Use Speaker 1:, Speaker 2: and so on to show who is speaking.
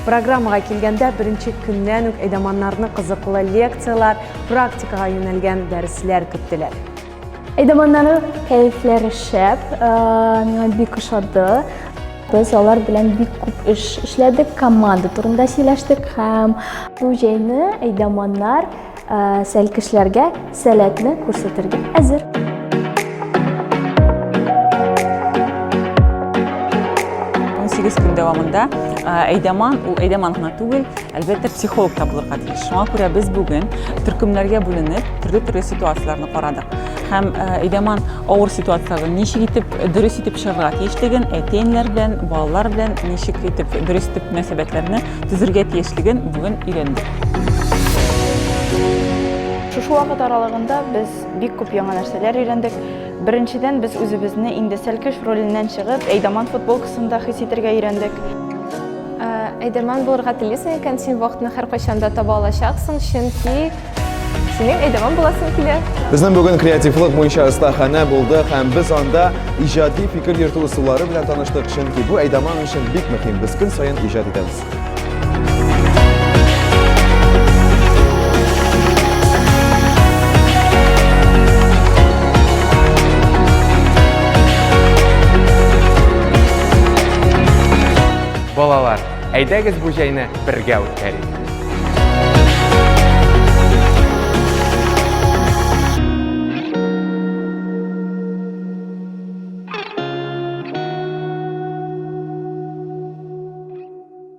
Speaker 1: Программага килгәндә, беренче көннән үк әйдаманнарны кызыклы лекцияләр, практикага юнәлгән дәресләр көттеләр. Әйдаманнары кәефләре шәп, э, миңа бик ошады. Без алар белән бик күп эш эшләдек, команда турында сөйләштек һәм бу җәйне әйдаманнар Сәл кешеләргә сәләтне күрсәтергә әзер. сигез көн дәвамында әйдәман ул әйдәман гына түгел әлбәттә психолог та булырга тиеш шуңа күрә без бүген төркемнәргә бүленеп төрле төрле ситуацияләрне карадык һәм әйдәман авыр ситуацияләргә ничек итеп дөрес итеп чыгарга тиешлеген әти әниләр белән балалар белән ничек итеп дөрес итеп мөнәсәбәтләрне төзергә тиешлеген бүген өйрәндек. Шушы вакыт аралыгында без бик күп яңа нәрсәләр өйрәндек. Беренчедән, без үзебезне инде сәлкеш роленнән чыгып, Әйдаман футболкасында хис итәргә өйрәндек. Әйдаман булырга телисең икән, син вакытны һәркайчан да таба алачаксың, чөнки Синең әйдәмән буласың килә. Безнең бүген креативлык буенча остаханә булды һәм без анда иҗади фикер йөртү ысуллары белән таныштык, чөнки бу әйдәман өчен бик мөһим. Без көн саен иҗат итәбез. Балалар, Әйдәгез бу җәйне бергә үткәрик!